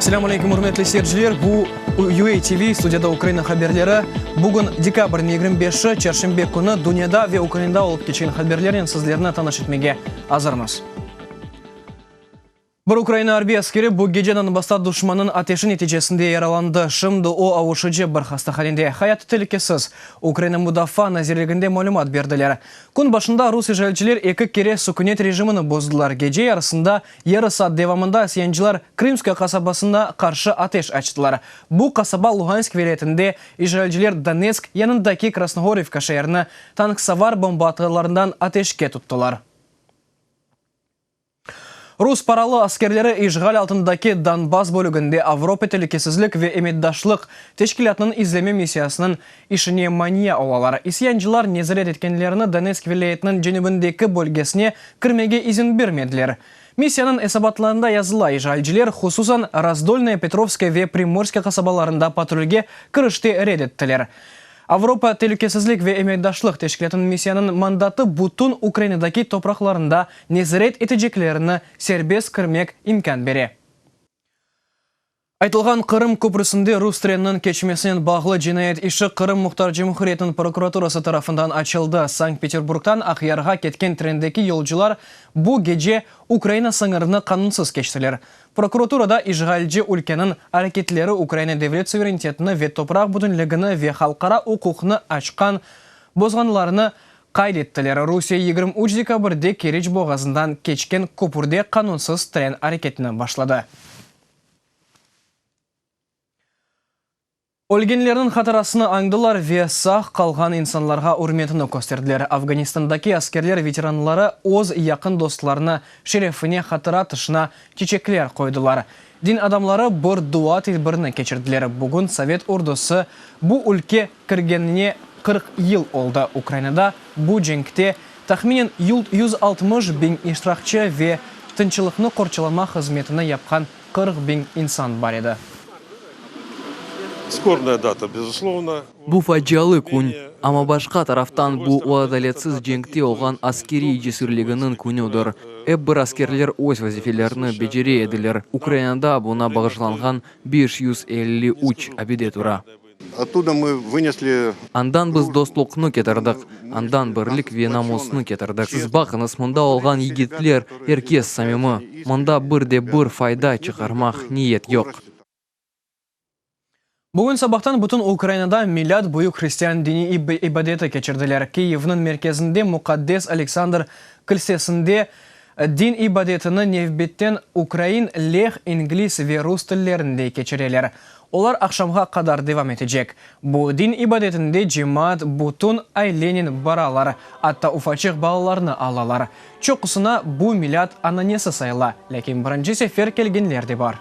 Selâmu aleykum, ürmetli seyirciler! Bu UA TV, studiyada Ukraina haberleri. Bugün dekabrniñ yigirmi beşi, çarşenbe künü. Dünyada ve Ukrainada olıp keçken haberlernen sizlerni tanış etmege azırmız. Bir Ukraina arbiy askeri bu geceden basta duşmannıñ ateşi neticesinde yaralandı, şimdi o avuşıcı bir hastahanede, hayatı telükesiz, Ukraina Mudafaa nazirliginde malümat berdiler. Kün başında rus işğalciler eki kere sükünet rejimini bozdılar, gece yarısında, yarı saat devamında isyancılar Krımskoye qasabasına qarşı ateş açtılar. Bu qasaba Luhansk vilâyetinde, işğalciler Donetsk yanındaki Krasnohorivka şeerini tanksavar bomba atarlarından ateşke tuttılar. Rus paralı askerleri işğal altındaki Donbass bölüginde Avropa telükesizlik ve emetdaşlıq teşkilâtınıñ izleme missiyasınıñ işine mania olalar. İsyancılar nezaret etkenlerini Donetsk vilâyetiniñ cenübindeki bölgesine kirmege izin bermediler. Missiyanıñ esabatlarında yazıla, işğalciler, hususan, Razdolnaya Petrovskaya ve Primorskaya qasabalarında patrulge kirişti red ettiler. Avropa telükesizlik ve emekdaşlıq teşkilâtınıñ missiyanıñ mandatı bütün Ukrainadaki topraqlarında nezaret eteceklerini serbest kirmek imkân bere. Aytılğan Qırım köprüsinde rus treniniñ keçmesinen bağlı cinayet işi Qırım Muhtar Cumhuriyetiniñ prokuraturası tarafından açıldı. Sankt-Peterburgdan Aqyarğa ketken trendeki yolcular bu gece Ukraina sıñırını qanunsız keçtiler. Prokuraturada işğalci ülkeniñ areketleri Ukraina devlet suverenitetini ve topraq bütünligini ve halqara uquqnı açqan bozğanlarını qayd ettiler, Rusiye yigirmi üç dekabirde Keriç boğazından keçken köpürde qanunsız tren areketini başladı. Ölgenlerniñ hatırasını añdılar ve sağ qalğan insanlarğa ürmetini kösterdiler. Afganistandaki askerler veteranları öz yaqın dostlarını şerefine hatıra tışına çiçekler qoydılar. Din adamları bir dua tedbirini keçirdiler. Bugün sovet ordusı bu ülke kirgenine qırq yıl oldı. Ukrainada bu cenkte, tahminen, yüz altmış biñ iştirakçı ve tınçlıqnı qorçalama hızmetini yapqan Qırq biñ insan bar edi. Bu facialı kün, amma başqa taraftan bu o adaletsiz cenkte olğan askeriy cesürliginiñ künüdir. Ep bir askerler öz vazifelerini becere ediler. Ukrainada buna bağışlanğan beş yüz elli üç abide tura. Andan biz dostluqnı ketirdik, andan birlik ve namusnı ketirdik. Siz baqıñız, mında olğan yigitler, er kes samimiy. Mında bir de bir fayda çıqarmaq niyet yoq. Bugün sabahtan bütün Ukrainada milât büyük hristian diniy ibadeti keçirdiler. Kiyevniñ merkezinde, muqaddes Aleksandr kilsesinde Din ibadetini nevbetten ukrain, leh, ingliz ve rus tillerinde keçireler. Olar aqşamğa qadar devam etecek. Bu din ibadetinde cemaat bütün ailenen baralar, atta ufaçıq balalarnı alalar. Çoqusına bu milât ananesi sayıla, lâkin birinci sefer kelgenler de bar.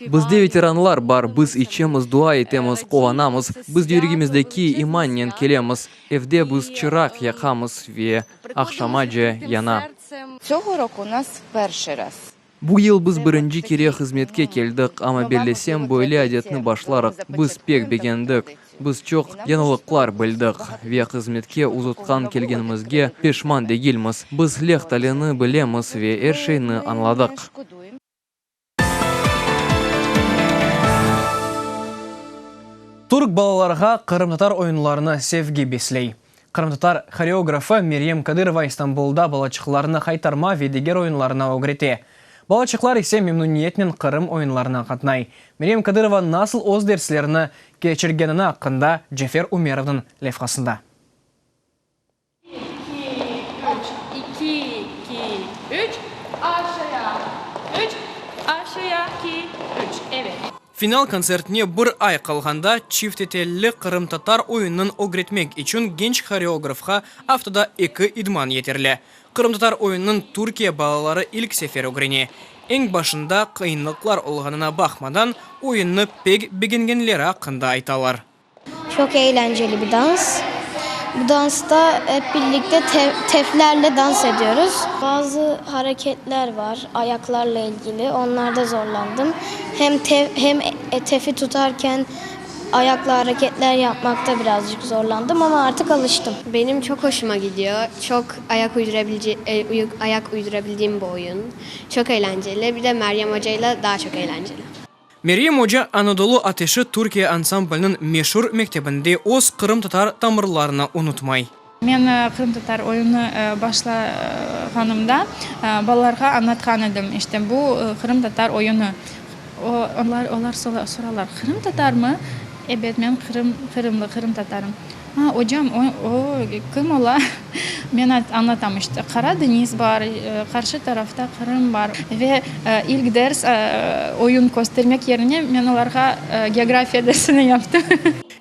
Bizde veteranlar bar, biz içemiz, dua etemiz, quvanamız, biz yüregimizdeki imannen kelemiz, evde biz çıraq yaqamız ve aqşamace yana. Çoğu rok u nas perşi raz. Bu yıl biz birinci kere hızmetke keldik, amma bellesem, böyle adetni başlarıq, biz pek begendik. Biz çoq yañılıqlar bildik ve hızmetke uzutqan kelgenimizge peşman degilmiz. Biz Leh talini bilemiz ve er şeyni añladıq. Türk balalarğa qırımtatar oyunlarını sevgi besley. Qırımtatar horeografı Meryem Kadırova İstanbulda balaçıqlarnı haytarma ve diger oyunlarnı ögrete. Balaçıqlar ise memnuniyetnen Qırım oyunlarına qatnay. Meryem Kadırova nasıl öz derslerini keçirgenini aqqında Cefer Ümerovnıñ levhasında. İki, iki, üç, iki, iki, üç, aşağı, üç, aşağı, iki, üç, evet. Final kontsertine bir ay qalğanda çifte telli qırımtatar oyunın ögretmek içün genç horeografğa aftada eki idman yeterli. Qırımtatar oyunın Türkiye balaları ilk sefer ögrene. Eñ başında qıyınlıqlar olğanına baqmadan, oyunnı pek begengenleri aqqında aytalar. Çoq eğlenceli bir dans. Bu dansta ep birlikte teflerle dans ediyoruz. Bazı hareketler var, ayaqlarla ilgili, onlarda zorlandım. Hem tef, hem tefi tutarken ayaqla hareketler yapmaqta birazcık zorlandım, amma artıq alıştım. Benim çoq hoşuma gidiyor. Çoq ayaq uydurabilce, ayaq uydurabildiğim bir oyun. Çoq eğlenceli. Bir de Meryem Oca ile daha çoq eğlenceli. Meryem oca Anadolu ateşi Türkiye ansambliniñ meşur mektebinde öz qırımtatar tamırlarını unutmay. Men qırımtatar oyunı başlağanımda balalarğa añlatqan edim, işte, bu qırımtatar oyunı. Olar soralar, Qırımtatarmı? Ebet, men qırımlı, qırımtatarım. Ha, ocam, o kim ola? Men añlatam işte, Qara deñiz bar, qarşı tarafta Qırım bar. Ve ilk ders, oyun köstermek yerine men olarğa geografiya dersini yaptım.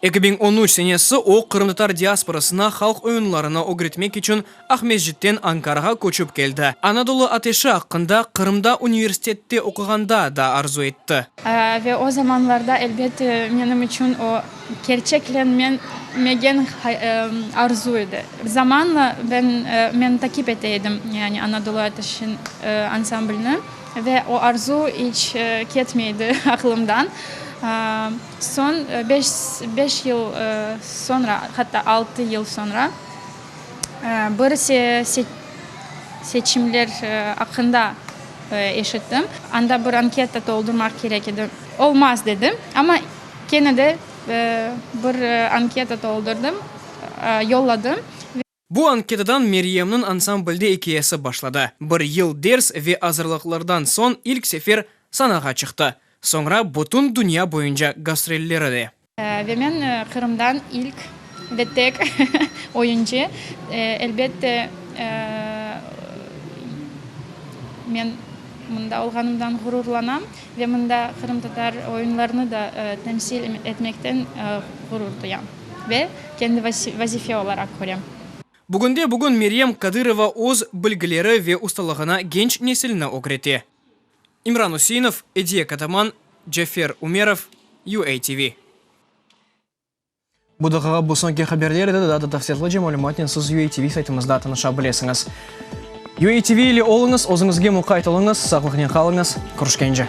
Eki biñ on üç senesi o qırımtatar diasporasına halq oyunlarını ögretmek içün Aqmescitten Ankarağa köçip keldi. Anadolu ateşi aqqında Qırımda universitette oquğanda da arzu etti. Ve o zamanlarda, elbette, menim içün o, kerçeklenmegen arzu edi. Zamanla ben, men taqip ete edim, yani Anadolu ateşi ansamblini, ve o arzu iç ketmey edi aqlımdan. Soñ, beş yıl soñra, hatta altı yıl soñra. Bir ise seçimler aqqında eşittim, anda bir anketa toldurmaq kerek edi, olmaz dedim, amma kene de bir anketa toldurdım, yolladım. Bu anketadan Meryemniñ ansamblde ikâyesi başladı, bir yıl ders ve azırlıqlardan soñ ilk sefer sanağa çıqtı, soñra bütün dünya boyunca gastrolleri de. Ve men Qırımdan ilk ve tek oyuncu, elbette, men mında olğanımdan ğururlanam ve mında qırımtatar oyunlarını da temsil etmekten ğurur duyam ve kendi vazife olaraq körem. Bugünde-bugün Meryem Kadırova öz bilgileri ve ustalığına genç nesilni ögrete. İmran Useinov, Ediye Kataman, Cafer Umerov, UATV. Bu daqiqa bu soñki haberler edi, daa da tafsilotlıca malümatnen siz UATV saytımızda tanışa bilesiñiz. UATV ile oluñız, özüñizge muqayt oluñız, saqlıqnen qalıñız, körüşkence!